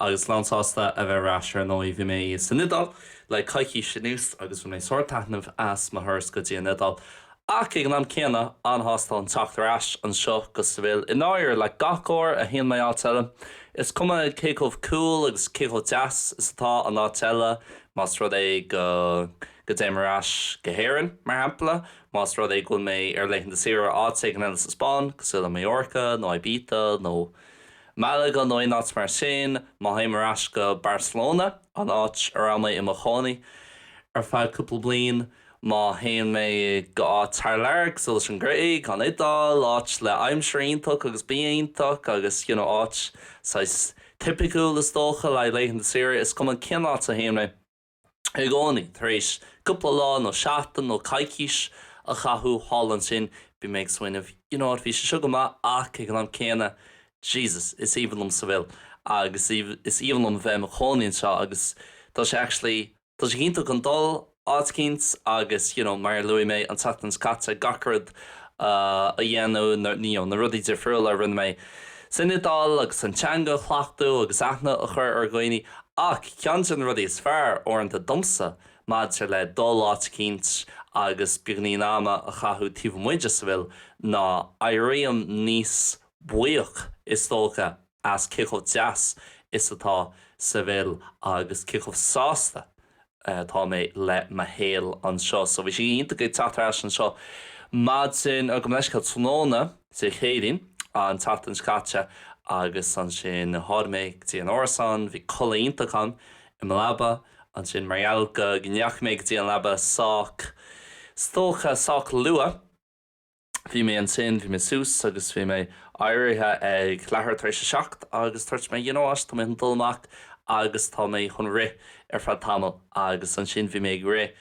Agus lánsásta a bheith ar ais, ar ndóigh. Bhí mé san Iodáil le coicís anuas agus bhain mé sár taitneamh as mo thuras go dtí an Iodáil, ach ag an am céanna, an-shásta chun teacht ar ais anseo go Seville. I ndáirire, le gach uair a théann mé áit eile, is cuma cé chomh cool agus cé chomh deas is atá an áit eile, más rud é go go dtéim ar ais go hÉirinn, mar shampla, más rud é go bhfuil mé ar laethanta saoire áit éigin eile sa Spáinn, cosúil le Mallorca nó Ibiza nó. Málaga nó aon áit mar sin, má théim ar ais go Barcelona, an áit a raibh mé i mo chónaí ar feadh cúpla bliain, má théann mé go áit thar lear, cosúil leis an Ghréig, an Iodáil, áit le aimsir iontach agus bia iontach agus you know áit saghas tipiciúil is dócha le haghaidh laethanta saoire, is cuma cén áit a théann mé. i gcónaí, tar éis cúpla lá nó seachtain nó coicís a chaitheamh thall ansin, bím ag smaoineamh, you know what, bhí sé seo go maith ach ag an am céanna, Jesus, is aoibhinn liom Seville agus is aoibhinn liom a bheith i mo chónaí anseo agus tá sé actually, tá sé iontach chun dul áit eicínt agus, you know, mar a luaigh mé an tseachtain seo caite, gach rud a dhéanamh, you know, na rudaí difriúla a rinne mé. san Iodáil agus an teanga a chleachtadh agus aithne a chur ar dhaoine ach ceann de na rudaí is fearr, uaireanta, domsa maidir le dul áit eicínt agus beagainín ama a chaitheamh taobh amuigh de Seville ná éirím níos buíoch, is dócha, as cé chomh deas is atá Seville agus cé chomh sásta atá mé le mo shaol anseo. So bhí sé iontach ag teacht ar ais anseo maidin, or gabh mo leithscéal, tráthnóna Dé Céadaoin an tseachtain seo caite agus ansin tháinig mé go dtí an árasán, bhí codladh iontach agam i mo leaba ansin mar gheall go ndeachaigh mé go dtí an leaba sách, is dócha, sách luath. Bhí mé ansin, bhí mé suas agus bhí mé éirithe ag leathuair tar éis a seacht agus dúirt mé you know what, tá mé chun dul amach agus tá mé chun rith ar feadh tamaill agus ansin bhí mé ag rith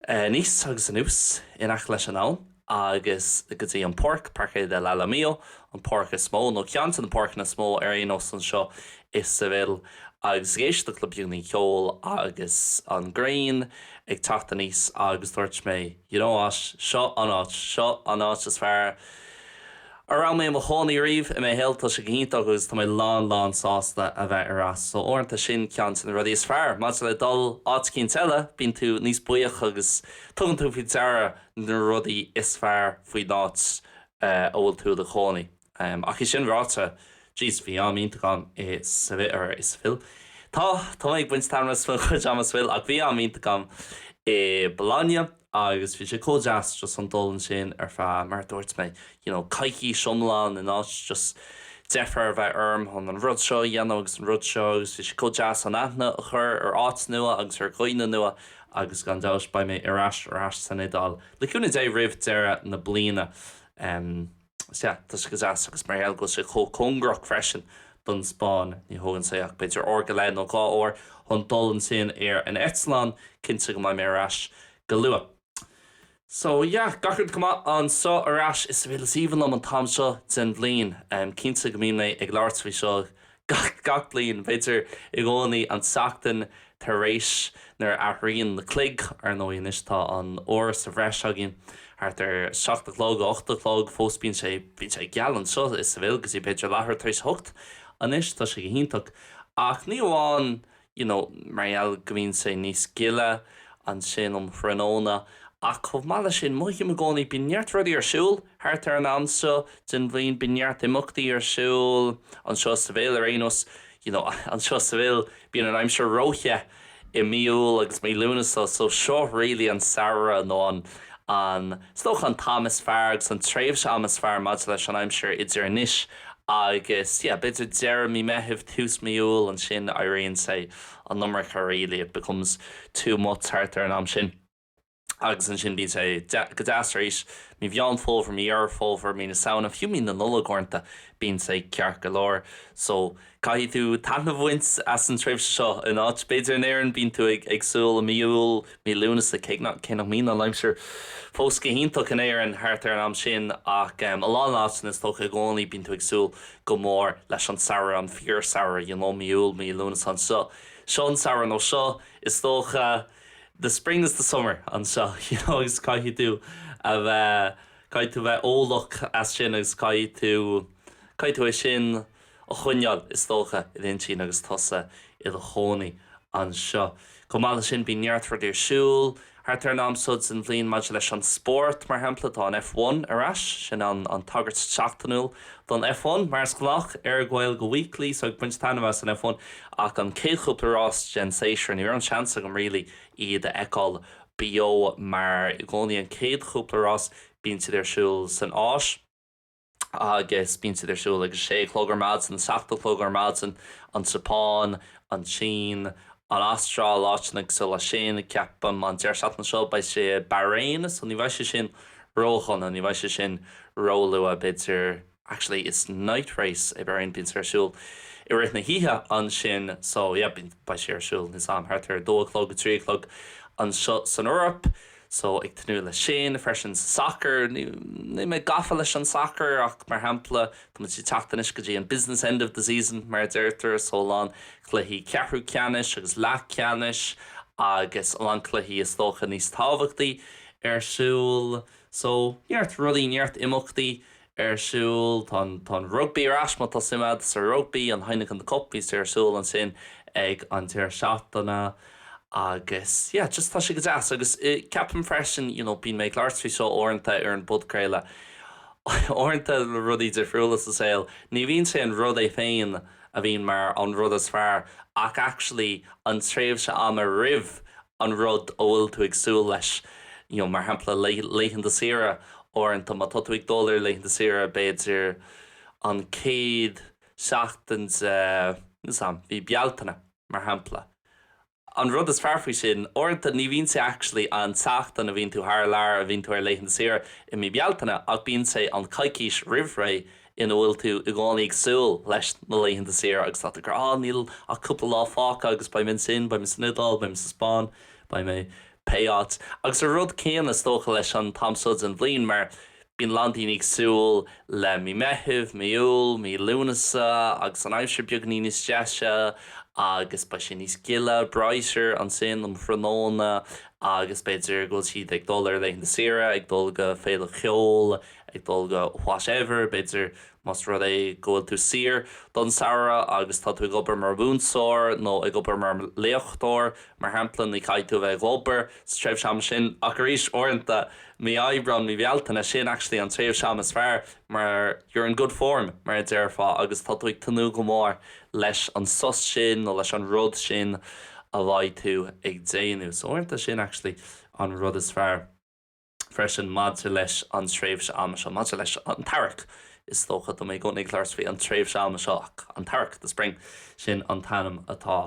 aníos agus anuas in aice leis an abhainn agus go dtí an páirc, Parque del Alamillo, an páirc is mó nó ceann de na páirceanna is mó ar aon nós anseo i Seville agus ag éisteacht le bannaí ceoil agus an ghrian ag teacht aníos agus dúirt mé. You know what, seo an áit, seo an áit is fearr a raibh mé i mo chónaí ariamh i mo shaol, tá sé go hiontach agus tá mé lán lán sásta a bheith ar ais. So uaireanta sin ceann de na rudaí is fearr, maidir le dul áit eicínt eile, bíonn tú níos buíoch agus tugann tú faoi deara na rudaí is fearr faoin áit a bhfuil tú i do chónaí. Ach é sin ráite, jeez, bhí am iontach agam i Seville. Tá, tá mé ag baint taitnimh as mo chuid ama i Seville ach bhí am iontach agam i Bologna agus bhí sé chomh deas just an dul ansin ar feadh, mar a dúirt mé, you know, coicís iomlán in áit just deifir a bheith orm chun an rud seo a dhéanamh agus an rud seo agus bhí sé chomh deas an aithne a chur ar áit nua agus ar dhaoine nua agus gan dabht beidh mé ar ais san Iodáil le cúnamh Dé roimh deireadh na bliana. Sea, tá sé go deas agus mar gheall go bhfuil sé chomh cóngarach freisin don Spáinn, ní thógann sé ach b'fhéidir uair go leith nó dhá uair chun dul ansin ar an eitleán, cinnte go mbeidh mé ar ais go luath. So, yeah, gach rud go maith anseo ar ais, is, bhuel, is aoibhinn liom an t-am seo den bhliain, cinnte go mbíonn mé ag labhairt faoi seo Gach bliain, b'fhéidir i gcónaí an tseachtain tar éis, nuair a athraíonn na cloig, ar ndóigh anois tá an uair sa bhreis againn, thart ar seacht a chlog, a hocht a chlog, fós bíonn sé, bíonn sé geal anseo i Seville go dtí b'fhéidir leathuair tar éis a hocht, anois tá sé go hiontach. Ach ní amháin you know mar gheall go mbíonn sé níos gile ansin um thráthnóna ach chomh maith leis sin mothaím i gcónaí bíonn neart rudaí ar siúl thart ar an am seo den bhliain, bíonn neart imeachtaí ar siúl anseo i Seville ar aon nós you know anseo i Seville bíonn an aimsir ró-the i mí Iúil agus mí Lúnasa so seo really an samhradh nó an, an, is dócha an t-am is fearr agus an tréimhse ama is fearr maidir leis an aimsir idir anois Agus yeah, b'fhéidir deireadh mí Meithimh, tús mí Iúil, ansin éiríonn sé an iomarca really, it becomes too much thart ar an am sin. Agus ansin bíonn sé go deas arís, mí Mheán Fómhair, mí Dheireadh Fómhair, mí na Samhna, fiú mí na Nollag uaireanta, bíonn sé ceart go leor. So. Caithfidh tú taitneamh a bhaint as an tréimhse seo in áit. B'fhéidir in Éirinn bíonn tú ag súil le mí Iúil, mí Lúnasa, cé nach, cé nach mbíonn an aimsir fós go hiontach in Éirinn thart ar an am sin, ach i a lán áiteanna is dócha i gcónaí bíonn tú ag súil go mór leis an samhradh, an fíor samhradh, you know, mí Iúil, mí Lúnasa anseo. Seo an samhradh nó seo, is dócha, the spring is the summer anseo, you know, agus caithfidh tú a bheith, caithfidh tú a bheith eolach as sin agus caithfidh tú, caithfidh tú é sin, a choinneáil, is dócha, i d'intinn agus tusa i do chónaí anseo. Chomh maith leis sin, bíonn neart rudaí ar siúl thart ar an am seo den bhliain maidir leis an spórt, mar shampla, tá an F1 ar ais, sin an tagairt sheachtainiúil don F1, mar is gnách, ar Gaeilge Weekly, so ag baint taitnimh as an F1, ach an chéad chúpla rás den séasúr, ní raibh an seans agam really iad a fheiceáil beo mar i gcónaí an chéad chúpla rás, bíonn siad ar siúl san Áis. agus bíonn siad ar siúl ag a sé a chlog ar maidin, a seacht a chlog ar maidin, an tSeapáin, an tSín, an Astráil, áiteanna cosúil leis sin, ceapaim, an deireadh seachtaine seo beidh sé i Bahrain, so ní bheidh sé sin ródhona, ní bheidh sé sin róluath, b'fhéidir, actually it's night race i Bahrain, bíonn siad ar siúl i rith na hoíche ansin, so yeah, beidh sé ar siúl níos am, thart ar a dó a chlog, a trí a chlog anseo san Eoraip. só ag tnúth le sin, freisin, sacar. Ní mé gafa leis an sacar ach, mar shampla, tá sé ag teacht anois go dtí an 'business end of the season', mar a deirtear, só a lán cluichí ceathrú ceannais agus leathcheannais agus a lán cluichí, is dócha, níos tábhachtaí ar siúl. Só, neart rudaí, neart imeachtaí ar siúl, tá an, tá an rugbaí ar ais, má tá suim agat sa rugbaí, an Heineken Cup, bíonn sé ar siúl ansin ag an deireadh seachtaine agus yeah, just tá sé go deas agus ceapaim freisin, you know, bíonn mé ag labhairt faoi seo uaireanta ar an bpodchraoladh, uaireanta le rudaí difriúla sa saol, ní bhíonn sé an rud é féin a bhíonn mar an rud is fearr ach actually an tréimhse ama roimh an rud a bhfuil tú ag súil leis. You know, mar shampla, le laethanta saoire, uaireanta má tá tú ag dul ar laethanta saoire, b'fhéidir an chéad seachtain de, mhí Bealtaine, mar shampla. An rud is fearr faoi sin, uaireanta ní bhíonn sé actually an tseachtain a bhíonn tú thar lear a bhíonn tú ar laethanta saoire i mí Bealtaine ach bíonn sé an coicís roimh ré, ina bhfuil tú i gcónaí ag súil leis na laethanta saoire agus tá tú ag rá, ah, níl ach cúpla lá fágtha agus beidh mé ansin, beidh mé san Iodáil, beidh mé sa Spáinn, beidh mé pé áit. Agus an rud céanna is dócha leis an t-am seo den bhliain mar bíonn a lán daoine ag súil le Mí Meithimh, Mí Iúil, Mí Lúnasa agus an aimsir beagainín níos deise agus beidh sé níos gile, brighter, ansin um thráthnóna agus b'fhéidir go bhfuil siad ag dul ar laethanta saoire, ag dul go féile cheoil Ag dul go whatever, b'fhéidir, más rud é go bhfuil tú saor don samhradh agus tá tú ag obair mar mhúinteoir nó ag obair mar léachtóir, mar shampla, ní chaithfidh tú a bheith ag obair sa tréimhse ama sin. Ach arís, uaireanta, mí Aibreáin, mí Bhealtaine, sin actually an tréimhse ama is fearr mar you're in good form, mar a déarfá, agus tá tú ag tnúth go mór leis an sos sin nó leis an rud sin a bheidh tú ag déanamh. So uaireanta, sin actually an rud is fearr. freisin maidir leis an tréimhse ama seo, maidir leis an t-earrach. Is dócha tá mé i gcónaí ag labhairt faoi an tréimhse ama seo ach an t-earrach, the spring, sin an t-ainm atá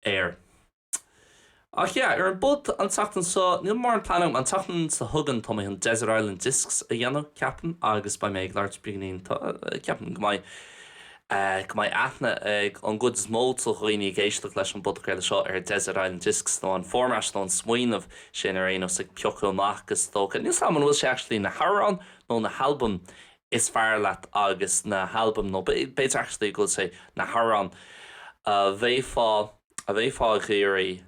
air. Ach yeah, ar an bpud an tseachtain seo, níl mórán plean agam. An tseachtain seo chugainn tá mé chun Desert Island Discs a dhéanamh, ceapaim, agus beidh mé ag labhairt beagáinín, ceapaim go mbeidh. go mbeidh aithne ag an gcuid is mó de dhaoine ag éisteacht leis an bpodchraoladh seo ar Desert Island Discs nó an format nó an smaoineamh sin ar aon nós ag piocadh amach agus is dócha. Níl 's agam an bhfuil sé actually na hamhráin nó na halbaim is fearr leat agus na halbaim nó b'fhéidir actually go bhfuil sé na hamhráin a bheifeá a bheifeá ag iarraidh.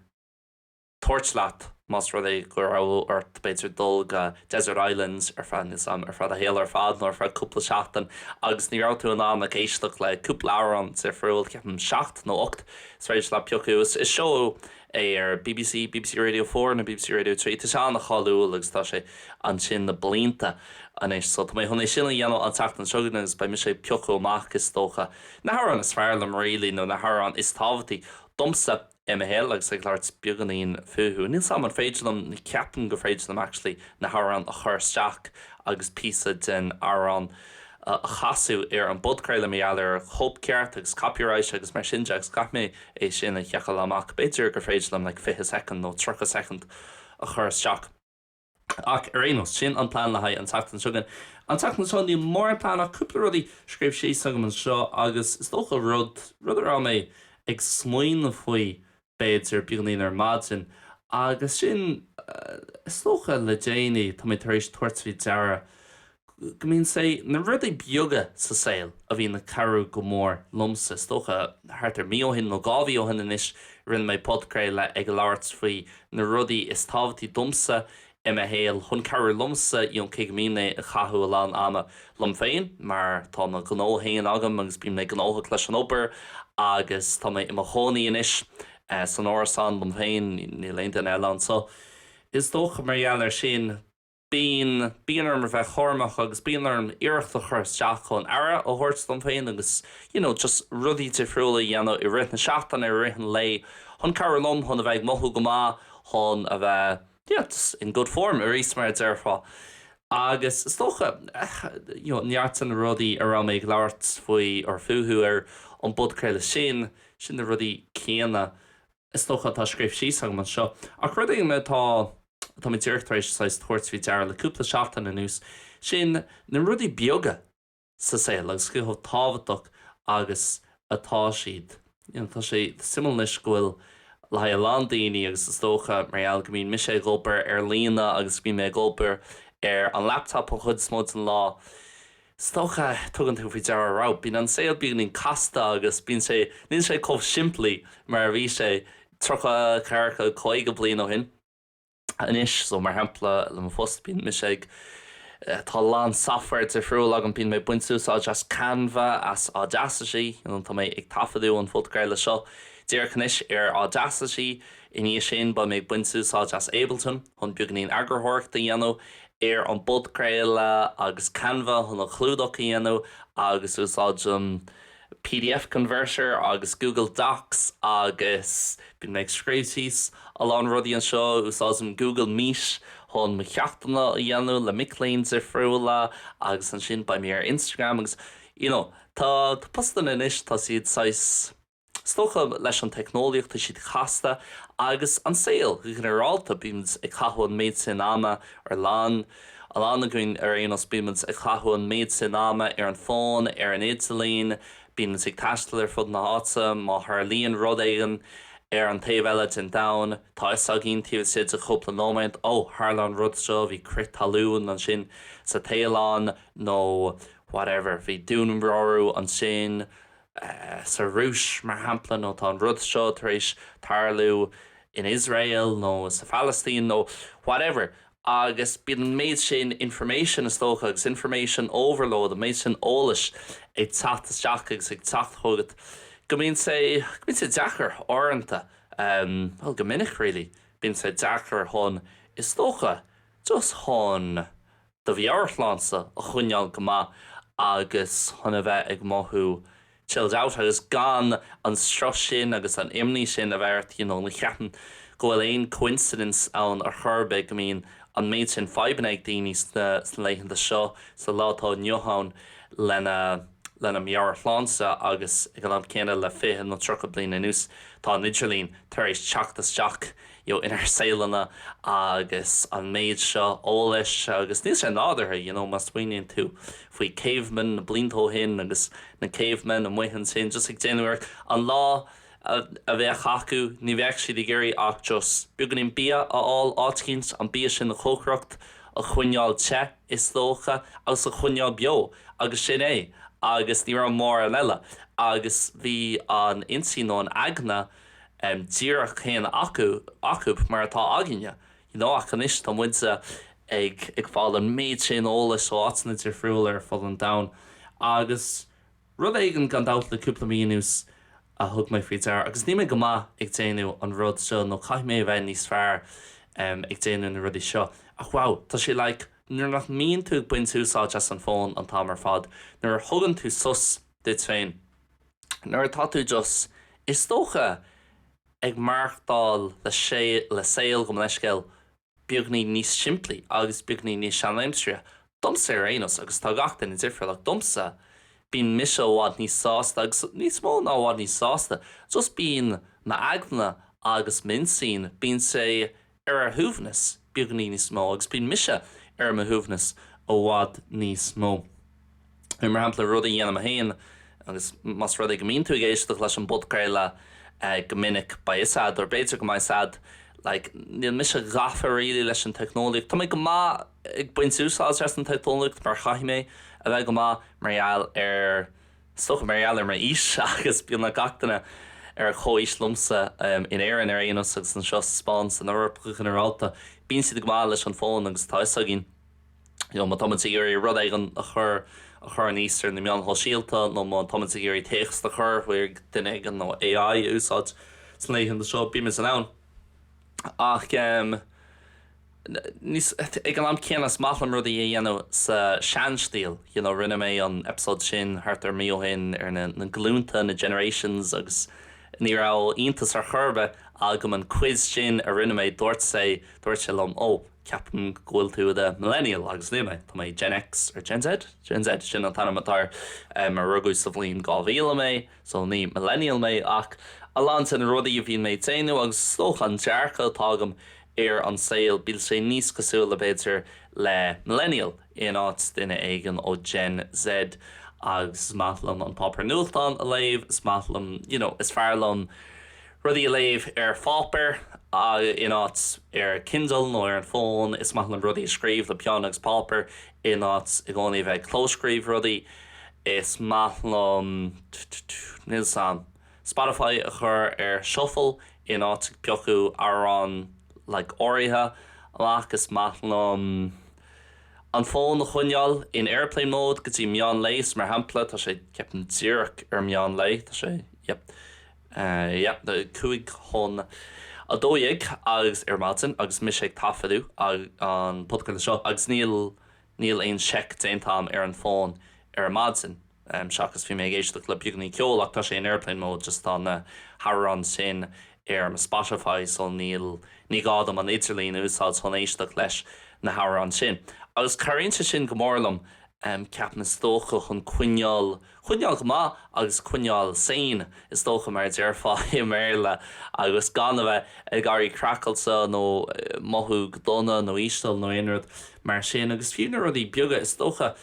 tabhairt leat más rud é go raibh ort, b'fhéidir, dul go Desert Islands ar feadh, níl 's agam, ar feadh do shaoil ar fad nó ar feadh cúpla seachtain agus ní raibh tú in ann ach éisteacht le cúpla amhrán difriúil, ceapaim seacht nó ocht, 's féidir leat piocadh, is seó é ar BBC, BBC Radio Four nó BBC Radio Three, tá sé an-cháiliúil agus tá sé ansin le blianta anois so tá mé chun é sin a dhéanamh an tseachtain seo chugainn agus beidh mise ag piocadh amach, is dócha, na hamhráin is fearr liom really nó na hamhráin is tábhachtaí domsa. I mo shaol agus ag labhairt beagáinín fúthu. Níl 's a'm an féidir liom, ceapaim gur féidir liom actually, na hamhráin a chur isteach agus píosa den amhrán a chasadh ar an bpodchraoladh mar gheall ar chóipcheart agus copyright agus mar sin de agus caithfidh mé é sin a sheiceáil amach. B'fhéidir gur féidir liom like fiche soicind nó tríocha soicind a chur isteach. Ach ar aon nós, sin an plean le haghaidh an tseachtain seo chugainn. An tseachtain seo níl mórán plean ach cúpla rudaí scríofa síos agam anseo agus is dócha rud, rud a raibh mé ag smaoineamh faoi b'fhéidir beagáinín ar maidin agus sin is dócha le déanaí tá mé tar éis tabhairt faoi deara go mbíonn sé na rudaí beaga sa saol a bhíonn ag cabhrú go mór liomsa. Is dócha thart ar mí ó shin nó dhá mhí ó shin anois rinne mé podchraoladh ag labhairt faoi na rudaí is tábhachtaí domsa i mo shaol chun cabhrú liomsa you know cé go mbíonn mé ag caitheamh a lán ama liom féin mar tá mo ghnó féin agam agus bím gnóthach leis an obair agus tá mé i mo chónaí anois san árasán liom féin, níl aon duine eile anso. Is dócha mar gheall ar sin. Bíonn, bíonn orm a bheith cúramach agus bíonn orm iarracht a chur isteach chun aire a thabhairt dom féin agus you know just rudaí difriúla a dhéanamh i rith na seachtaine, i rith an lae chun cabhrú liom chun a bheith ag mothú go maith, chun a bheith yeah just in good form I guess mar a déarfá. Agus is dócha you know neart de na rudaí a raibh mé ag labhairt faoi or fúthu ar an bpodchraoladh sin, sin na rudaí céanna is dócha atá scríofa síos agam anseo. Ach rud éigin atá. Mé díreach tar éis saghas tabhairt faoi deara le cúpla seachtain anuas, sin na rudaí beaga sa saol agus cé chomh tábhachtach agus atá siad. You know, tá sé suimiúil anois go bhfuil le haghaidh a lán daoine agus is dócha mar gheall go mbíonn mise ag obair ar líne agus go mbíonn mé ag obair ar an laptop an chuid is mó den lá, is dócha, tugann tú faoi deara, wow, bíonn an saol beagáinín casta agus bíonn sé, níl sé chomh simplí mar a bhí sé tríocha, ceathracha, caoga bliain ó shin. Anois, so mar shampla, le mo phost bíonn mise ag, tá a lán software difriúil agam, bíonn méid ag baint úsáid as Canva, as Audacity, you know, tá mé ag taifeadadh an phodchraolta seo díreach anois ar Audacity, i ndiaidh sin beidh mé ag baint úsáid as Ableton chun beagainín eagarthóireachta a dhéanamh ar an bpodchraoladh agus Canva chun an chlúdach a dhéanamh agus úsáidim Pdf Converter agus Google Docs agus bíonn mé ag scríobh síos a lán rudaí anseo, úsáidim Google Meet chun mo cheachtanna a dhéanamh le mic léinn difriúla agus ansin beidh mé ar Instagram agus you know tá postanna anois tá siad saghas is dócha leis an teicneolaíocht tá siad casta agus an saol go ginearálta bímid ag caitheamh an méid sin ama ar líne A lán againn ar aon nós bímid ag caitheamh an méid sin ama ar an bhfón, ar an idirlíon, bímid ag taisteal ar fud na háite, má tharlaíonn rud éigin ar an taobh eile den domhan, tá 'fhios againn taobh istigh de chúpla nóiméad, 'Ó, tharla an rud seo, bhí crith talún ansin sa Téalainn' nó whatever, 'Bhí dúnmharú ansin sa Rúis, mar shampla, nó 'Tá an rud seo tar éis tarlú in Iosrael nó sa Phalaistín' nó whatever. agus bíonn an méid sin information, is dócha, agus information overload, an méid sin eolais ag teacht isteach agus ag teacht chugat go mbíonn sé, go mbíonn sé deacair, uaireanta, bhuel, go minic, really, bíonn sé deacair chun, is dócha, just chun do mheabhairshláinte a choinneáil go maith agus chun a bheith ag mothú chilled out agus gan an strus sin agus an imní sin a bheith ort you know ní cheapaim go bhfuil aon coincidence ann ar chor ar bith go mbíonn an méid sin fadhbanna ag daoine sna laethanta seo sa lá atá inniu ann lena lena meabhairshláinte agus ag an am céanna le fiche nó tríocha bliain anuas tá an idirlíon tar éis teacht isteach you know inár saoleanna agus an méid seo eolais agus níl sé nádúrtha you know má smaoiníonn tú faoi cavemen na blianta ó shin agus na cavemen amuigh ansin just ag déanamh, like, an lá a bheadh acu ní bheadh siad ag iarraidh ach just beagáinín bia a fháil áit eicínt an bia sin a chócaireacht a choinneáil te is dócha agus a choinneáil beo agus sin é agus ní raibh mórán eile agus bhí an intinn nó an eagna díreach céanna acub mar atá againne, you know, ach anois tá muide ag fáil an méid sin eolais ó áiteanna difriúla ar fud an domhain agus rud éigin, gan dabht, le cúpla mí anuas a thug mé faoi deara, agus níl mé go maith ag déanamh an rud seo nó caithfidh mé a bheith níos fearr ag déanamh na rudaí seo, ach wow, tá sé like nuair nach mbíonn tú ag baint úsáid as an fón an t-am ar fad, nuair a thugann tú sos duit féin, Nuair atá tú just, is dócha, ag maireachtáil le saol, gabh mo leithscéal, beagní níos simplí agus beagní níos seanaimseartha, domsa ar aon nós, agus tá gach duine difriúil, ach domsa, bíonn mise i bhfad níos sásta, agus níos mó ná i bhfad níos sásta, just bíonn m'aigne agus m'intinn, bíonn sé i ar a shuaimhneas, beagní níos mó, agus bíonn mise ar mo shuaimhneas i bhfad níos mó. Mar shampla, rudaí a dhéanaim féin, agus más rud é go mbíonn tú ag éisteacht leis an bpodchraoladh go minic, beidh 'fhios a'd, or b'fhéidir go mbeidh 'fhios a'd, like, níl mise gafa really leis an teicneolaíocht. Tá mé go maith ag baint úsáid as an teicneolaíocht mar chaithfidh mé a bheith go maith mar gheall ar, is dócha mar gheall ar m'aois agus bíonn gach duine ar chomhaois liomsa, in Éirinn ar aon nós agus anseo sa Spáinn, san Eoraip go ginearálta, bíonn siad go maith leis an bhfón agus tá 'fhios againn, you know, má tá muid ag iarraidh rud éigin a chur, a chur aníos ar na meáin shóisialta nó má tá muid ag iarraidh téacs a chur chuig duine éigin nó AI a úsáid sna laethanta seo, bímid in ann ach, em. Ag an am céanna, is maith liom rudaí a dhéanamh sa seanstíl, you know, rinne mé an eipeasóid sin thart ar mí ó shin ar na glúnta, na generations, agus ní raibh iontas ar chor ar bith agam an quiz sin a rinne mé, dúirt sé liom, oh, ceapaim go bhfuil tú i do Millennial, agus níl mé, tá mé Gen X, or Gen Z? Gen Z, sin an t-ainm atá air, mar rugadh sa bhliain 2000 mé, so ní Millennial mé, ach a lán de na rudaí a bhíonn mé á dhéanamh, agus is dócha an dearcadh atá agam, ar an saol, bíonn sé níos cosúla, b'fhéidir, le Millennial in áit duine éigin ó Gen Z agus is maith liom an páipéar nuachtáin a léamh, is maith liom, you know, is fearr liom rudaí a léamh ar pháipéar in áit ar Kindle nó ar an bhfón, is maith liom rudaí a scríobh le peann agus páipéar in áit i gcónaí a bheith ag clóscríobh rudaí, is maith liom, níl 's 'am. Spotify a chur ar shuffle in áit ag piocadh amhrán like áirithe amach, is maith liom an fón a choinneáil in airplane mode go dtí meán lae, so mar shampla tá sé ceapaim díreach ar meán lae, tá sé yep, yep cúig chun a dó dhéag agus ar maidin agus mise ag taifeadadh an podchraoladh seo agus níl, níl aon seic déanta 'am ar an bhfón ar maidin. seachas bhí mé ag éisteacht le beagní ceoil ach tá sé in airplane mode just tá na hamhráin sin ar mo Spotify so níl ní gá dom an t-idirlíon a úsáid chun éisteacht leis na hamhráin sin agus cabhraíonn sé sin go mór liom ceapaim is dócha chun coinneáil coinneáil go maith agus coinneáil sane is dócha mar a déarfá i mBéarla agus gan a bheith ag éirí craiceáilte nó mothú go dona nó íseal nó aon rud mar sin agus fiú na rudaí beaga is dócha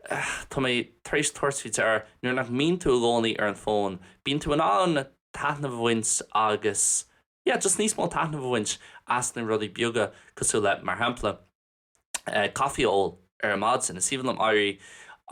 Tá mé tar éis tabhairt faoi deara, nuair nach mbíonn tú i gcónaí ar an bhfón, bíonn tú in ann taitneamh a bhaint agus, yeah, just níos mó taitnimh a bhaint as na rudaí beaga cosúil le, mar shampla, coffee a ól ar maidin. Is aoibhinn liom éirí,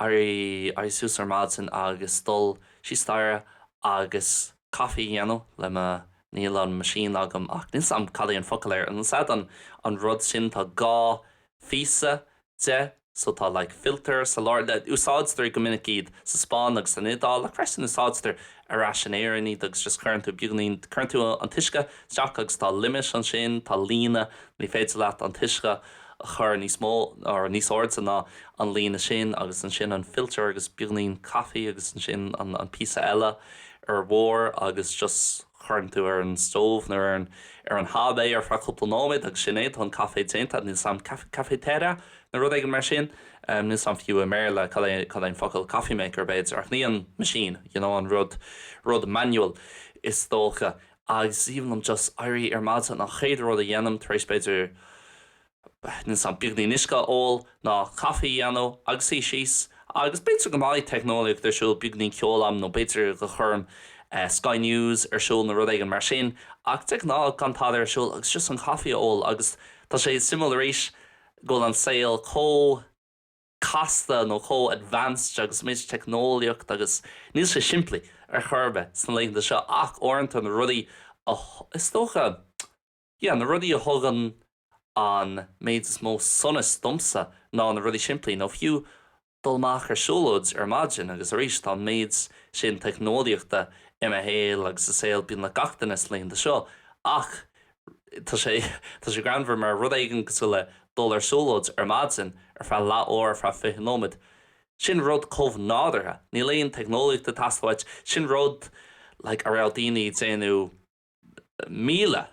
éirí, éirí suas ar maidin agus dul síos staighre agus coffee a dhéanamh le mo, níl an machine agam ach níl 's a'm cad é an focal air, an, sea, an, an rud sin, tá dhá phíosa de, so tá like filter sa lár de, úsáidtear go minic iad sa Spáinn agus san Iodáil freisin úsáidtear ar ais in Éirinn iad agus just cuireann tú beagáinín, cuireann tú an t-uisce isteach agus tá limit ansin, tá líne, ní féidir leat an t-uisce a chur níos mó or níos airde ná an líne sin agus ansin an filter agus beagáinín coffee agus ansin an, an píosa eile ar barr agus just. Cuireann tú ar an stove nó ar an, ar an hob é ar feadh cúpla nóiméad agus sin é, tá an caife déanta. Níl 's a'm, caf, cafetera? Nó rud éigin mar sin? Níl 's a'm fiú i mBéarla cad é, cad é an focal, coffee maker b'fhéidir? Ach ní an machine, you know, an rud, rud manual is dócha. Agus is aoibhinn liom just éirí ar maidin, an chéad rud a dhéanaim tar éis b'fhéidir, ní, an, beagáinín uisce a ól, ná caife a dhéanamh agus suí síos agus b'fhéidir go mbeidh teicneolaíocht ar siúl, beagáinín ceol a'm nó b'fhéidir go gcuirim Sky News ar siúl nó rud éigin mar sin ach de ghnáth gan tada ar siúl agus just an caife a ól agus tá sé suimiúil arís go bhfuil an saol chomh casta nó chomh advanced agus méid teicneolaíocht agus níl sé simplí ar chor ar bith sna laethanta seo ach uaireanta na rudaí is dócha. Yeah, na rudaí a thugann an méid is mó sonas domsa ná na rudaí simplí, nó fiú dul amach ar siúlóid ar maidin agus arís tá an méid sin teicneolaíochta i mo shaol agus i saol beagnach gach duine sna laethanta seo ach tá sé, tá sé greannmhar, mar rud éigin cosúil le dul ar siúlóid ar maidin ar feadh leath uair, ar feadh fiche nóiméad, sin rud chomh nádúrtha, níl aon teicneolaíocht ag teastáil uait, sin rud like a raibh daoine ag déanamh. míle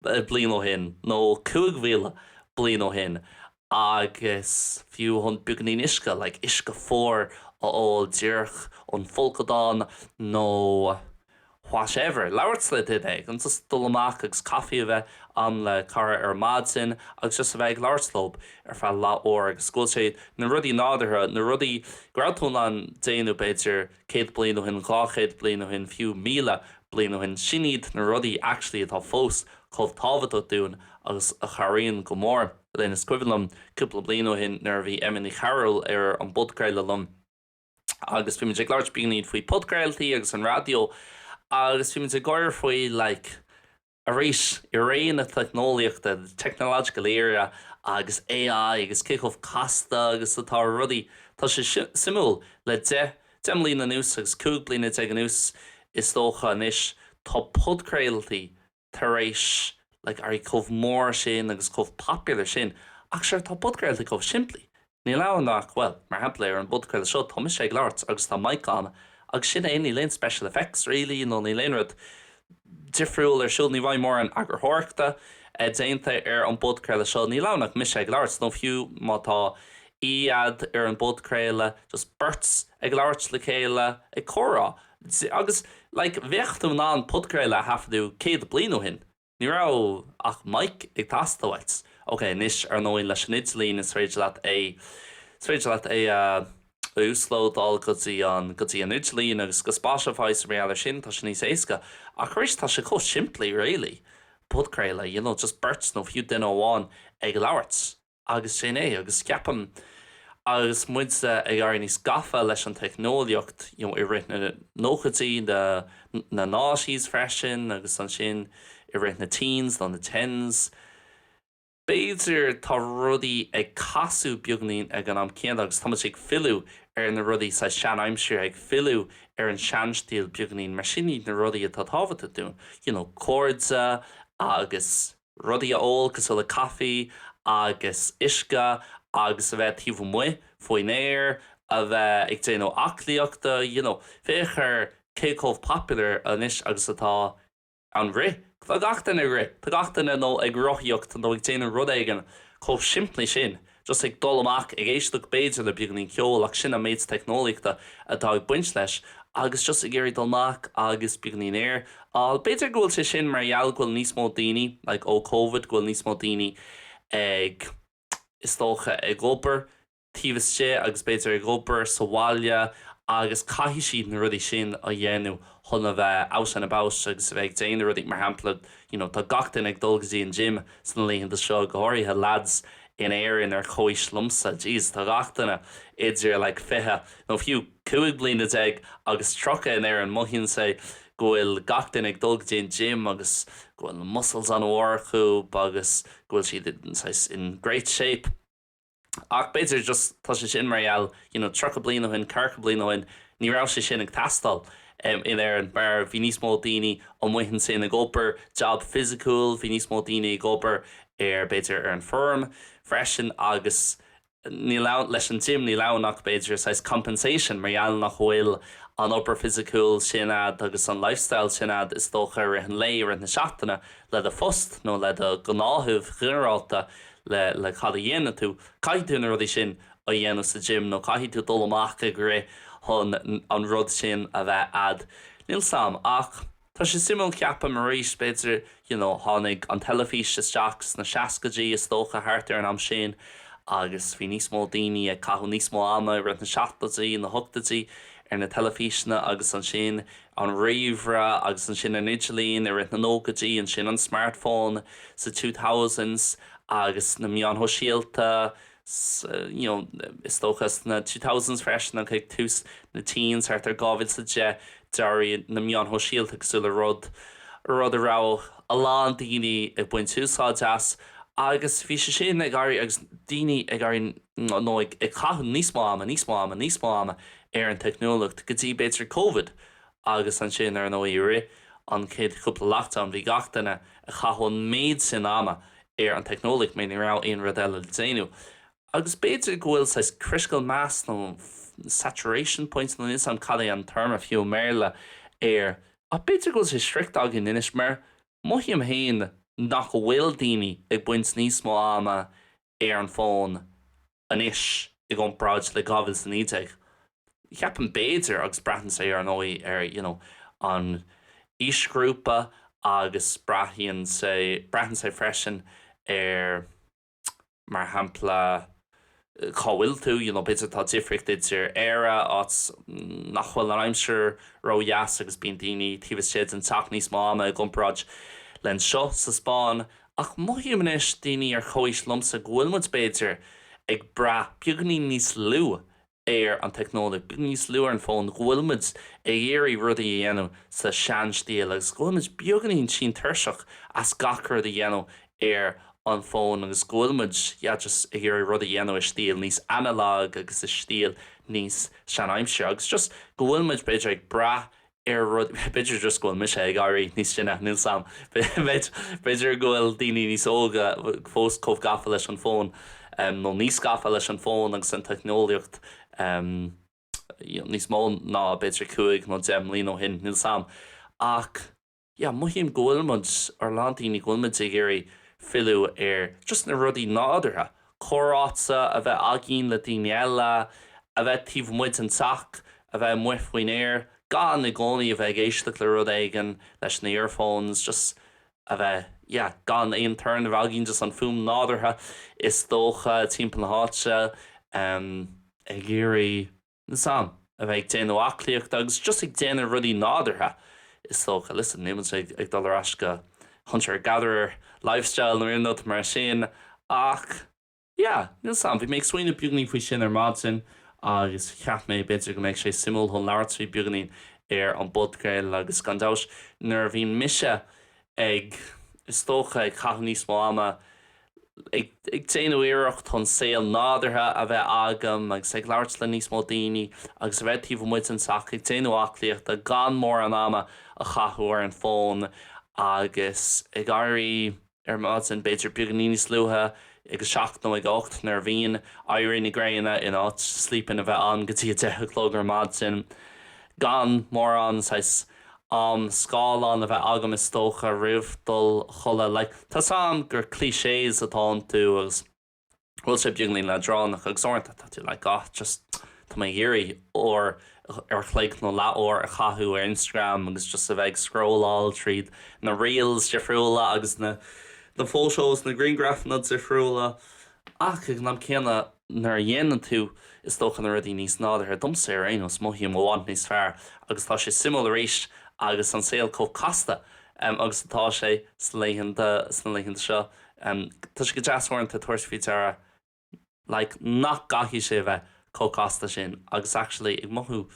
bliain ó shin nó cúig mhíle bliain ó shin agus fiú chun beagáinín uisce, like uisce fuar a ól díreach ón bhfolcadán nó whatever, labhairt le duine éigin, just dul amach agus caifí a bheith a'm le cara ar maidin agus just a bheith ag labhairt leo ar feadh leath uair agus is cosúil gurb iad na rudaí nádúrtha, na rudaí go raibh tú in ann déanamh b'fhéidir Céad bliain ó shin, dhá chéad bliain ó shin, fiú míle bliain ó shin, sin iad na rudaí actually atá fós chomh tábhachtach dúinn agus a chabhraíonn go mór linn. Is cuimhin liom cúpla bliain ó shin nuair a bhí Emma Ní Chearúil ar an bpodchraoladh liom agus bhí muid ag labhairt beagáinín faoi podchraoltaí agus an raidió agus bhí muid ag gáire faoi like, Arís, i ré na teicneolaíochta, the technological era, agus AI agus cé chomh casta agus atá rudaí, tá sé suimiúil, le deich, deich mbliana anuas agus cúig bliana déag anuas is dócha anois, tá podchraoltaí tar éis like éirí chomh mór sin agus chomh popular sin ach sure tá podchraoltaí chomh simplí, Níl ann ach, bhuel, mar shampla ar an bpodchraoladh seo tá mise ag labhairt agus tá mic ann agus sin é, níl aon special effects really nó níl aon rud difriúil ar siúl, ní bheidh mórán eagarthóireachta déanta ar an bpodchraoladh seo, níl ann ach mise ag labhairt nó fiú má tá aoi agat ar an bpodchraoladh just beirt ag labhairt le chéile ag comhrá agus like bheadh tú in ann podchraoladh a thaifeadadh céad bliain ó shin. Ní raibh ach mic ag teastáilt. Ok, anois, ar ndóigh, leis an idirlíon, is féidir leat é, is féidir leat é a uaslódáil go dtí an, go dtí an idirlíon agus go Spotify agus mar gheall ar sin, tá sé níos éasca. Ach arís, tá sé chomh simplí, really. Podchraoladh, you know, just beirt nó fiú duine amháin ag labhairt. Agus sin é, agus ceapaim, agus muidsa ag éirí níos gafa leis an teicneolaíocht, you know, i rith na nóchaidí, na, na noughties freisin, agus ansin i rith na teens, nó na tens, b'fhéidir, tá rudaí ag casadh beagainín ag an am céanna, agus tá muid ag filleadh ar na rudaí sa tseanaimsir, ag filleadh ar an seanstíl beagainín, mar sin iad na rudaí atá tábhachtach dúinn, you know, cairde agus. rudaí a ól cosúil le caife agus uisce agus a bheith taobh amuigh faoin aer, a bheith ag déanamh aclaíochta, you know, féach ar cé chomh popular anois agus atá an rith, tá gach duine ag rith, tá gach duine nó ag rothaíocht nó ag déanamh rud éigin chomh simplí sin just ag dul amach ag éisteacht b'fhéidir le beagáinín ceol ach sin an méid teicneolaíochta atá ag baint leis agus just ag iarraidh dul amach agus beagáinín aer. B'fhéidir go bhfuil sé sin mar gheall go bhfuil níos mó daoine, like ó Covid, go bhfuil níos mó daoine ag, is dócha, ag obair taobh istigh agus b'fhéidir ag obair sa bhaile agus caithfidh siad na rudaí sin a dhéanamh chun a bheith out and about agus a bheith ag déanamh rudaí, mar shampla, you know tá gach duine ag dul go dtí an gym sna laethanta seo, go háirithe lads in Éirinn ar chomhaois liomsa, jeez tá gach duine idir like fiche nó fiú cúig bliana déag agus tríocha in Éirinn, mothaíonn sé go bhfuil gach duine ag dul go dtí an gym agus go bhfuil na muscles an-mhór acu agus go bhfuil siad in great shape. Ach b'fhéidir just tá sé sin mar gheall you know tríocha bliain ó shin, ceathracha bliain ó shin, ní raibh sé sin ag teastáil in Éirinn mar bhí níos mó daoine amuigh ansin ag obair jab fisiciúil, bhí níos mó daoine ag obair ar b'fhéidir ar an bhfeirm freisin agus ní, leis an gym níl ann ach b'fhéidir saghas compensation mar gheall nach bhfuil an obair fisiciúil sin a'd agus an lifestyle sin a'd is dócha i rith an lae, i rith na seachtaine le do phost nó le do ghnáthamh ghinearálta le cad a dhéanann tú. Caithfidh tú na rudaí sin a dhéanamh sa gym nó caithfidh tú dul amach ag rith chun an rud sin a bheith a'd. Níl 's a'm ach tá sé suimiúil ceapaim arís, b'fhéidir, you know, tháinig an teilifís isteach sna seascaidí is dócha, thart ar an am sin agus bhí níos mó daoine ag caitheamh níos mó ama i rith na seachtóidí, na hochtóidí ar na teilifíseanna agus ansin an ríomhaire agus ansin an t-idirlíon i rith na nóchaidí, ansin an smartphone sna 2000s agus na meáin shóisialta sa, you know, is dócha sna 2000s freisin agus ag tús na teens, thart ar 2010, d'éirigh na meáin shóisialta cosúil le rud, rud a raibh a lán daoine ag baint úsáid as agus bhí sé sin ag éirí agus daoine ag éirí nó ag caitheamh níos mó ama, níos mó ama, níos mó ama ar an teicneolaíocht go dtí b'fhéidir Covid agus ansin ar ndóigh i rith an chéad chúpla lockdown bhí gach duine ag caitheamh an méid sin ama ar an teicneolaíocht mar ní raibh aon rud eile le déanamh agus b'fhéidir go bhfuil saghas critical mass nó saturation point nó níl 's a'm cad é an téarma fiú i mBéarla air ach b'fhéidir go bhfuil sé sroichte againn anois mar mothaím féin nach bhfuil daoine ag baint níos mó ama ar an bhfón anois i gcomparáid le 2019, ceapaim, b'fhéidir, agus braitheann sé ar ndóigh ar you know an aoisghrúpa agus braitheann sé, braitheann sé freisin ar mar shampla cá bhfuil tú, you know b'fhéidir tá difríocht idir Éire, áit nach bhfuil an aimsir ródheas agus bíonn daoine taobh istigh den teach níos mó ama i gcomparáid le anseo sa Spáinn Ach mothaím anois, daoine ar comhaois liomsa, go bhfuil muid, b'fhéidir, ag brath beagáinín níos lú ar an technology, beagáinín níos lú ar an bhfón, go bhfuil muid ag iarraidh rudaí a dhéanamh sa seanstíl agus go bhfuil muid beagáinín tinn tuirseach as gach rud a dhéanamh ar an bhfón agus go bhfuil muid, yeah, just ag iarraidh rud a dhéanamh i stíl níos analog agus i stíl níos seanaimseartha agus just go bhfuil muid, b'fhéidir, ag brath ar rud, b'fhéidir just go bhfuil mise ag éirí níos sine, níl 's 'am, b'fhéidir go bhfuil daoine níos óga fós chomh gafa leis an bhfón, nó níos gafa leis an bhfón agus an teicneolaíocht níos mó ná b'fhéidir cúig nó deich mbliain ó shin, níl 's 'am, ach. yeah mothaím go bhfuil muid, or a lán daoine, go bhfuil muid ag iarraidh filleadh ar just na rudaí nádúrtha, comhráite a bheith againn le daoine eile, a bheith taobh amuigh den teach, a bheith amuigh faoin aer, gan i gcónaí a bheith ag éisteacht le rud éigin leis na earphones, just a bheith yeah gan aon torann a bheith againn, just an fuaim nádúrtha is dócha timpeall na háite, em ag iarraidh. sásamh, a bheith ag déanamh aclaíochta agus just ag déanamh rudaí nádúrtha, is dócha. Listen, níl muid ag ag dul ar ais go hunter-gatherer lifestyle nó aon rud mar sin ach yeah, níl 's agam, bhí mé ag smaoineamh beagainín faoi sin ar maidin agus cheap mé b'fhéidir go mbeadh sé suimiúil chun labhairt faoi beagainín ar an bpodcraoladh agus gan dabht nuair a bhíonn mise ag, is dócha, ag caitheamh níos mó ama ag déanamh iarracht chun saol nádúrtha a bheith agam agus ag labhairt le níos mó daoine agus a bheith taobh amuigh den teach ag déanamh aclaíochta gan mórán ama a chaitheamh ar an bhfón agus ag éirí ar maidin b'fhéidir beagainín níos luaithe, ag a seacht nó ag a hocht nuair a bhíonn éirí na gréine in áit 'sleep in' a bheith ann go dtí a deich a chlog ar maidin gan mórán saghas am scáileáin a bheith agam is dócha roimh dhul a chodladh like tá a fhios agam gur clichés atá iontu agus bhfuil sé beagainín leadránach agus uaireanta tá tú like ah just tá mé ag iarraidh uair ar chloig nó leathuair a chaitheamh ar Instagram agus just a bheith ag scrolláil tríd na reels difriúla agus na na photos na griangrafanna difriúla Ach ag an am céanna, nuair a dhéanann tú, is dócha, na rudaí níos nádúrtha, domsa ar aon nós, mothaím i bhfad níos fearr agus tá sé suimiúil arís agus an saol chomh casta agus atá sé sna laethanta sna laethanta seo, tá sé go deas uaireanta tabhairt faoi deara like nach gcaithfidh sé a bheith. chomh casta sin agus actually ag mothú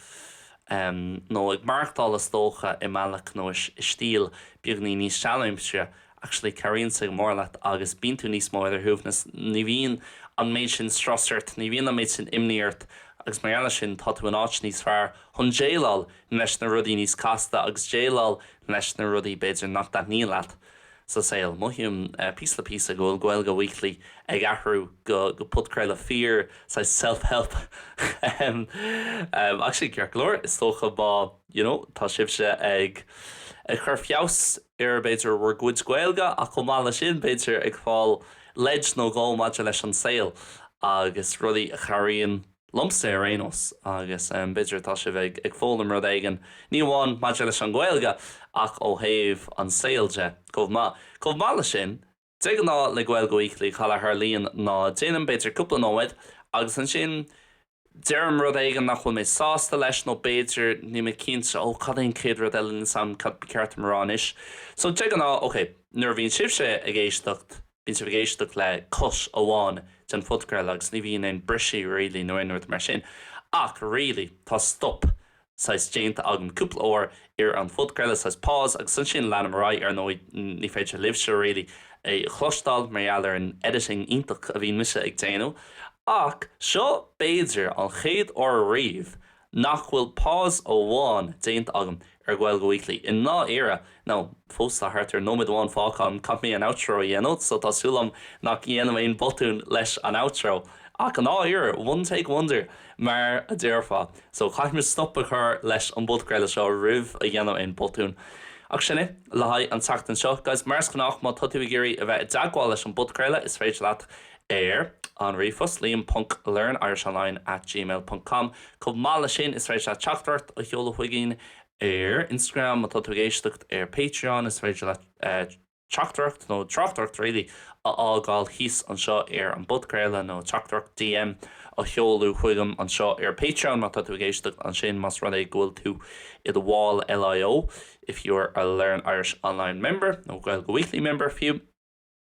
em nó ag maireachtáil is dócha i mbealach nó i stíl beagainín níos seanaimsire actually cabhraíonn sé go mór leat agus bíonn tú níos mó ar do shuaimhneas, ní bhíonn an méid sin strus ort, ní bhíonn an méid sin imní ort agus mar gheall air sin tá tú in áit níos fearr chun déileáil leis na rudaí níos casta agus déileáil leis na rudaí b'fhéidir nach dtaitníonn leat. sa saol. Mothaím píosa le píosa go bhfuil Gaeilge Weekly ag athrú go podchraoladh fíor, saghas self-help, ach sin ceart go leor, is dócha má you know tá sibhse ag cur feabhas ar b'fhéidir bhur gcuid Gaeilge ach chomh maith leis sin b'fhéidir ag fáil leid nó dhó maidir leis an saol agus rudaí a chabhraíonn liomsa ar aon nós, agus b'fhéidir tá sibh ag foghlaim rud éigin, ní amháin maidir leis an Ghaeilge, ach ó thaobh an saol de chomh maith. Chomh maith le sin, de ghnáth le Gaeilge Weekly, cad a tharlaíonn ná déanaim b'fhéidir cúpla nóiméad, agus ansin deirim rud éigin nach bhfuil mé sásta leis, nó b'fhéidir níl mé cinnte, ó cad é an chéad rud eile níl 's a'm cad ba cheart dom a rá anois. So de ghnáth, ok, nuair a bhíonn sibhse ag éisteacht, bíonn sibh ag éisteacht le cuid amháin den phodchraoladh agus ní bhíonn aon briseadh really nó aon rud mar sin ach really tá stop saghas déanta agam cúpla uair ar an phodchraoladh, saghas pause agus ansin leanaim ar aghaidh, ar ndóigh ní féidir libhse really é a chloisteáil mar gheall ar an editing iontach a bhíonn mise ag déanamh ach seo b'fhéidir an chéad uair riamh nach bhfuil pause amháin déanta agam ar Gaeilge Weekly i ndáiríre, nó fós tá thart ar nóiméad amháin fágtha agam, caithfidh mé an outro a dhéanamh, so tá súil agam nach ndéanaim aon bhotún leis an outro, ach i ndáiríre, one take wonder mar a déarfá, so caithfidh mé stop a chur leis an bpodchraoladh seo roimh a dhéanaim aon bhotún. Ach sin é le haghaidh an tseachtain seo. Guys, mar is gnách, má tá tú ag iarraidh a bheith i dteagmháil leis an bpodchraoladh, is féidir leat ar an ríomhphost, liam ponc learnirishonline at gmail ponc com Chomh maith le sin, is féidir leat teachtaireacht a sheoladh chugainn ar Instagram. Má tá tú ag éisteacht ar Patreon, is féidir leat teachtaireacht, nó tráchtaireacht really, a fhágáil thíos anseo ar an bpodchraoladh, nó teachtaireacht, DM, a sheoladh chugam anseo ar Patreon má tá tú ag éisteacht ansin, más rud é go bhfuil tú i do bhall LIO, if you're a Learn Irish Online member, nó Gaeilge Weekly member fiú.